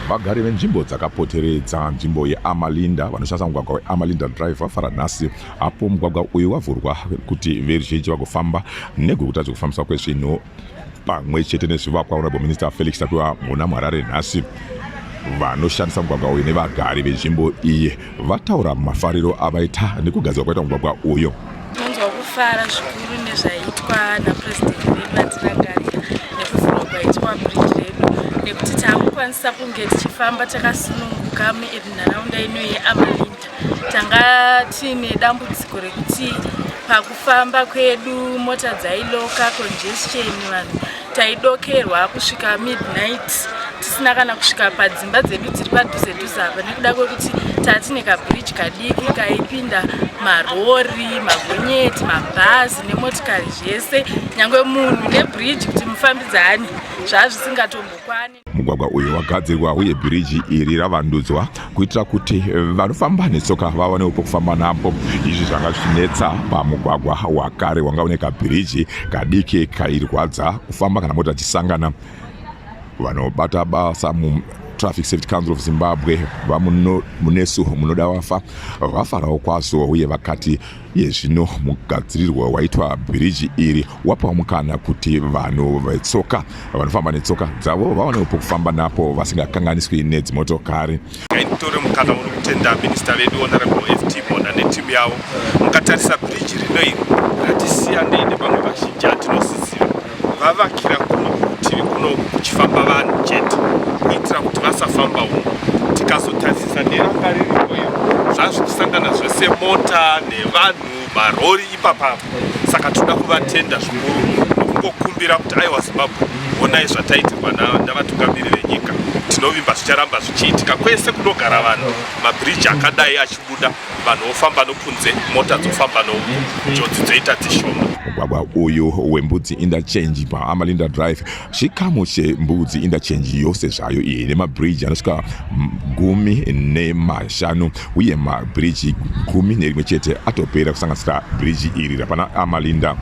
vagari venzvimbo dzakapoteredza nzvimbo yeamalinda vanoshandisa mugwagwa weamalinda drive vafara nhasi apo mugwagwa uyu wavhurwa kuti veruzhinji vagofamba negwekuta zvekufambiswa kwezvinhu pamwe chete nezvivakwa honorable minister felix tapiwa muna muharare nhasi vanoshandisa mugwagwa uyu nevagari venzvimbo iyi vataura mafariro avaita nekugadzirwa kwaita mugwagwa uyu tinonzwa kufara zvikuru nezvaitwa napurezidendi vedu vatiragarira nekuvhurwa kwaitwa bridge redu nekuti taakukwanisa kunge tichifamba takasununguka munharaunda ino yeamalini tanga tiine dambudziko rekuti pakufamba kwedu mota dzailoka congestion vanhu taidokerwa kusvika midnight tisina kana kusvika padzimba dzedu dziri padhuze dhuze apa nekuda kwekuti tatine kabridge kadiki kaipinda marori magonyeti mabhazi nemotikari zvese nyange munhu nebridge kuti mufambidzani zvazvisingatombokwane mugwagwa uyu wagadzirwa uye bhiriji iri ravandudzwa kuitira kuti vanofamba netsoka vawanewo pokufamba napo izvi zvanga zvichinetsa pamugwagwa wakare wanga une kabhiriji kadiki kairwadza kufamba kana mota dzisangana vanobata basa mu traffic safety council of zimbabwe vamunesu munoda wafa vafarawo kwazvo uye vakati iye zvino mugadzirirwo waitwa bhiriji iri wapa mukana kuti vanhu vetsoka vanofamba netsoka dzavo vaonewo pokufamba napo vasingakanganiswi nedzimotokari nditore mukana uno kutenda minista vedu honorable ft mona netimu yavo mukatarisa bhiriji rino iri ratisiya neine vamwe vazhinji atinosisira vavakira kuno kurutivi kuno kuchifamba vanhu chete kuitira kuti vasafamba uno tikazotarisisa neranga riripo iro zvazvikusangana zvese mota nevanhu marori ipapa saka tinoda kuvatenda zvikuru nokungokumbira kuti aiwa zimbabwe onai zvataitirwa navatungamiri venyika tinovimba zvicharamba zvichiitika kwese kunogara vanhu mabhiriji akadai achibuda vanhu vofamba nokunze mota dzofamba no njodzi dzoita dzishoma mugwagwa uyu wembudzi indachange paamalinda drive chikamu chembudzi indachange yose zvayo iyi nemabridge anosvika gumi nemashanu uye mabridge gumi nerimwe chete atopera kusanganisira bridge iri rapana amalinda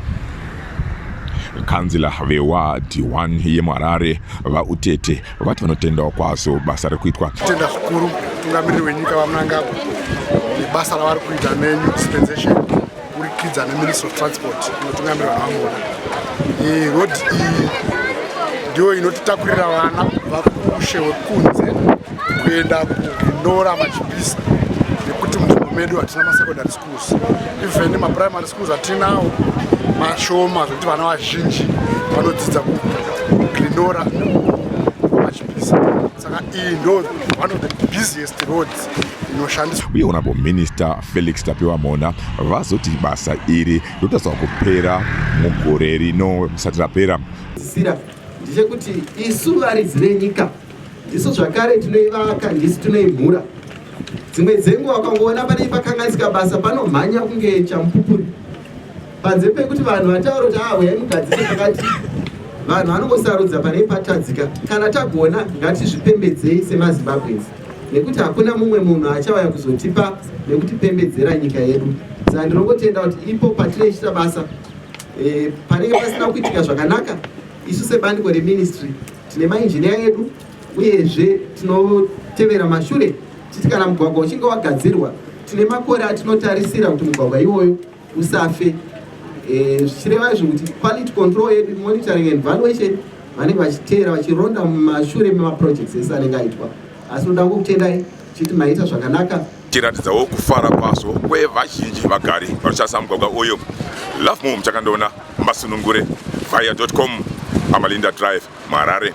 kanzila vewadhi 1 yemuharare vautete vati vanotendawo kwazo basa riri kuitwa tenda zvikuru mutungamiriri wenyika vamunangagwa nebasa ravari kuita nenew dispensation kurikidza neministry of transport inotungamirira vamona road iyi ndiyo inotitakurira vana kubva kumushe wekunze kuenda kuinora machipisa nekuti munzvimbo medu hatina masekondari even maprimary schools atinawo mashoma zvekuti vana vazhinji vanodzidza kugrinora vachipisa saka iyi ndo one of the busiest roads inoshandiswa uye honorable minister felix tapiwa mhona vazoti basa iri rotariswa kupera mugore rino risati rapera ndichekuti isu varidzi venyika isu zvakare tinoivaka ndisu tinoimhura dzimwe dzenguva ukangoona panei pakanganisika basa panomhanya kunge chamupupuri panze pekuti vanhu vataura kuti aa huyai mugadzire pakati vanhu vanongosarudza panei patadzika kana tagona ngatizvipembedzei semazimbabwens nekuti hakuna mumwe munhu achauya kuzotipa nekutipembedzera nyika yedu saa ndinongotenda kuti ipo patinoichita basa e, panenge pasina kuitika zvakanaka isu sebandiko reministry Tine mainjiniya edu uyezve tinotevera mashure titi kana mugwagwa uchinge wagadzirwa tine makore atinotarisira kuti mugwagwa iwoyo usafe eh, zvichireva izvo kuti quality control yedu monitoring and valuation vanenge vachiteera vachironda mumashure memaprojects ese anenge aitwa asi unoda ngokutendai chiti maita zvakanaka tiratidzawo kufara kwazvo kwevazhinji vagari vanoshandisa mugwagwa uyu love mom chakandoona masunungure via com amalinda drive muharare